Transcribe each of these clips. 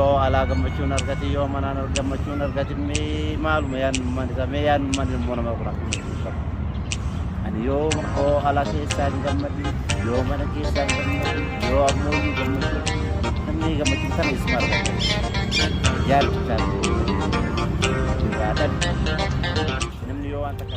Yoo alaa gammachuun argati yoo manaan ar- gammachuun argati mee maaluma yaannummaan isaa mee yaannummaan ilmoo namaa kun akkuma itti ibsama. Ani yoo oo alaa keessaa hin gammadin yoo mana keessaa hin gammadin yoo ammoo iyyuu gammachuu namni gammachuu sana isuma argata. Yaadni isaas irraa dhabe. Namni yoo waan takka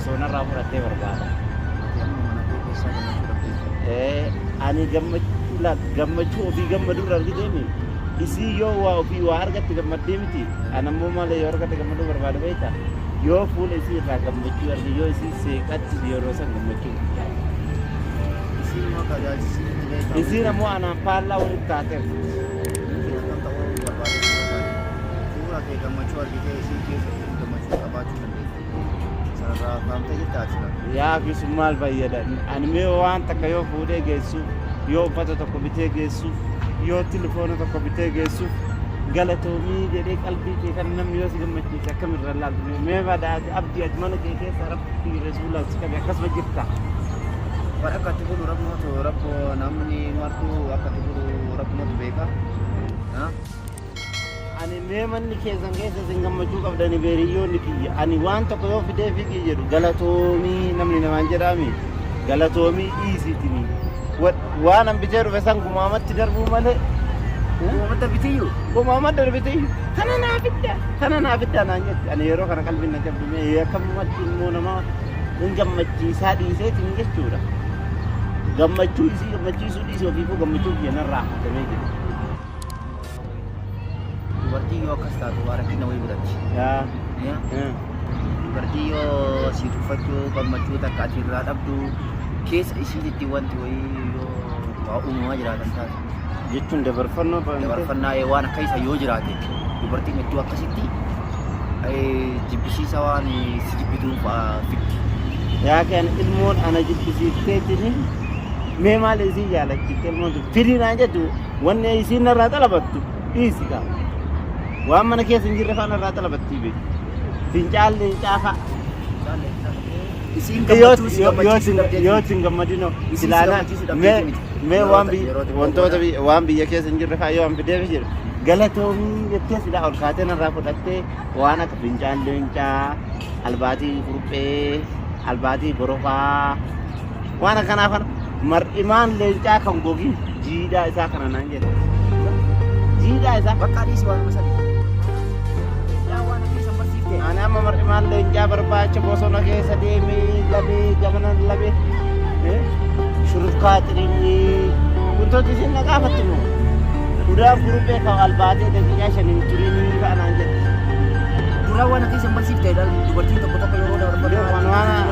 Osoo narraa fudhattee barbaada. Ati amma mana koo keessaa gammachuu dhabdeetta. Ee, ani gammachuu laal gammachuu ofii gammadu irra argiteemi. Isii yoo waa ofii waa argatte gammaddee miti. Ani ammoo maal yoo argadhe gammaduu barbaada beekta. Yoo fuula isii irraa gammachuu arge yoo isii seeqachiise yeroo san gammachuu guddaa. Isiin immoo akka ajaa'ibsiisii miti beekta. Isiin ammoo anaan faallaa walitti taateef. Miti akkam ta'uu barbaaduu barbaade. Fuula kee gammachuu argitee isiin keessa isiin gammachuu qabaachuu dandeetta. Sanarraa faamtee jirta ati silaa. Yaa fi sun maal fayyada? Ani mee waan takka yoo fuudhee geessuuf, yoo uffata tokko bitee geessuuf, yoo tilifoona tokko bitee geessuuf, galatoomii jedhee qalbii kee kan namni yoo si gammachiise akkamirra laaltu mee mee badaa ati abdii ati mana kee keessa rabbii rasuulaa si qabe akkasuma jirta. Waan akka itti godhu rabbumatu rabbu namni martuu akka itti godhu rabbumatu beeka. Ha? Ani mee manni keessan keessa isin gammachuu qabdani beeriyyoonni kiyya. Ani waan tokko yoo fidee fiigii jedhu galatoomii namni namaan jedhaami. Galatoomii dhiisiitini. Waan an bitee dhufe san gumaamatti darbuu malee. Gumaamatti bitiyyu. Gumaamatti darbitiyyu. Kana naa fidda. Kana naa fidda naan jetti. Ani yeroo kana qalbiin na cabdu mee akkamumatti immoo nama hin gammachiisaa dhiiseetiin jechuudha. Gammachuu isii gammachiisuu dhiisee ofiifuu gammachuu kiyya narraa hatamee jira. Dubartiin yoo akkas taatu waa rakkina wayii godhatti. Yaa. Ya? Yaa. Dubartii yoo si tuffachuu gammachuu takka ati irraa dhabdu keessa isiititti wanti wayii yoo waa uumamaa jiraatan taate. Jechuun dabarfannoo ba'an. Dabarfannaa ee, waan akka isa yoo jiraate dubartiin hedduu akkasitti ee, jibbisiisa waan ee, si jibbituu fa'aa fiddi. Yaa kan ilmoon ana jibbisiisteetini mee maal isin jaalachiifte ilmoon sun firii naan jettu Wanni isiin narraa xalabattu dhiisi kaa. Waan mana keessa hin jirre faa narraa xalabattii bee. Fincaan leencaa faa. Isiin Yoo gammachuu si yoo- yoo gammachiisuu sin- dhabdee yoo sin gammadinoo Isiin si ilaalaa gammachiisuu dhabdee mee miti. mee Yeroo waan ta- biyya yeroo tokko wantoota booda. biyya- waan biyya keessa hin jirre faa yoo an fideef jedhu galatoomii jettee silaa ol kaatee narraa fudhattee waan akka fincaan leencaa albaatii kurphee albaatii borofaa Waan akkanaa kana mar'imaan leencaa kan gogii jiidhaa isaa kana naan jedhe. Jiidhaa isaa Bakka dhiisi waan masali. Yaa waan akka isa barsiifte. ani amma mar'imaan leencaa barbaacha bosona keessa deemee labee gamana labee eh, shurufkaa xirinyii wantooti isin na gaafattu moo gudaan guruphee kan albaatee daqiiqaa shaniin turinii ka'anaan jedhe. Dura waan akka isa barsiifte dubartiin tokko tokko yeroo dabarfatu. Waan waan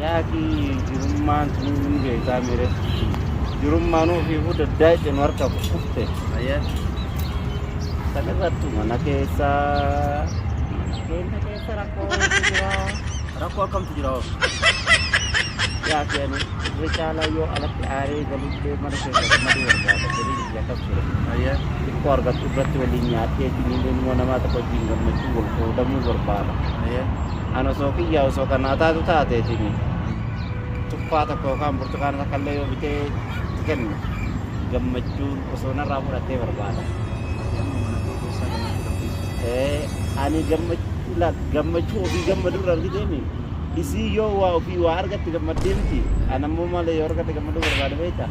Yaa akii jirummaan sinuu hin beekaa mire jirummaan ofiifuu daddaayxe nu harka kufte ayya salirrattu mana keessa mana keenya keessa rakkoo waytu jira rakkoo akkamtu jira hoo yaa akii ani irra caalaa yoo alatti aaree galullee mana keessa gammaduu barbaada galii biyya kam ture ayya xiqqoo argattu irratti waliin nyaadhee siniilee immoo namaa tokko wajjin gammachuu wal qoodamuu barbaada ayya An osoo kiyyaa osoo kan naa taatu taateetiin tuffaa tokko yookaan burtukaana takka illee yoo bitee itti kennu gammachuun osoo narraa fudhattee barbaada. Ati amma mana kee keessaa gammachuu dhabdeessa. Eh, Ani gammachuu laal gammachuu ofii gammaduu irra argiteemi. Isii yoo waa ofii waa argatte gammaddee miti. An ammoo maal yoo argadhe gammaduu barbaada beektaa?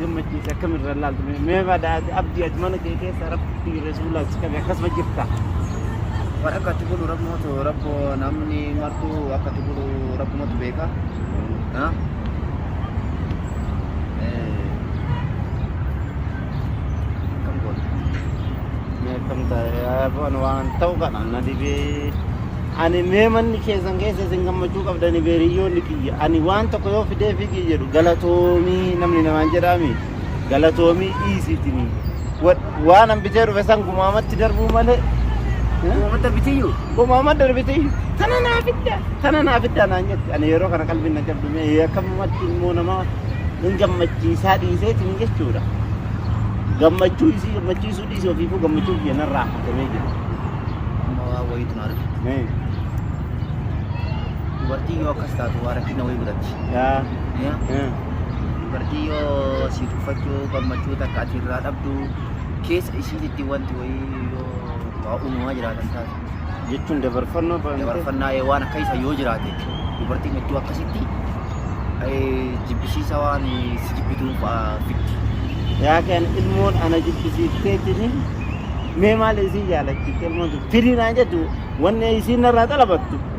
gammachiise akkamirra ilaaltu mee mee badhaate abdii ati mana kee keessa rabbi rasuulaa si qabe akkasuma jirta waan akka ati godhu rabbumatu rabbo namni martuu akka ati godhu rabbumatu beeka ha? Eh, akkam goota mee akkam ta'e waan waan ta'u kana na dhibee Ani mee manni keessan keessa isin gammachuu qabdani bee hiriyyoonni kiyya ani waan tokko yoo fidee fiigii jedhu galatoomii namni namaan jedhaami galatoomii dhiisiitini waan an bitee dhufe san gumaamatti darbuu malee Gomama darbitiyyu. gumaama darbitiyyu tana naa fidda tana naa fidda naan jette ani yeroo kana qalbiin na cabdu mee akkamumatti immoo nama hin gammachiisaa dhiiseetiin jechuudha gammachuu isii gammachiisuu Dhiisi ofiifuu gammachuun kiyya narraa hatamee jira. Amma waa wayiitu na arge. Mee, Dubartiin yoo akkas taatu waa rakkina wayii godhatti. yaa, Ya, eh, Dubartii yoo si tuffachuu gammachuu takka ati irraa dhabdu keessa isiititti wanti wayii yoo waa uumamaa jiraatan taate. jechuun dabarfannoo fa'aa dabarfannaa ee waan akka isa yoo jiraate dubartiin hedduu akkasitti ee, jibbisiisa waan ee, si jibbituun fa'aa fiddi. yaa kan ilmoon ana jibbisiiftee jiniin mee maal isiin jaalachiifte ilmoon sun firii naan jettu wanni isiin narraa xalabattu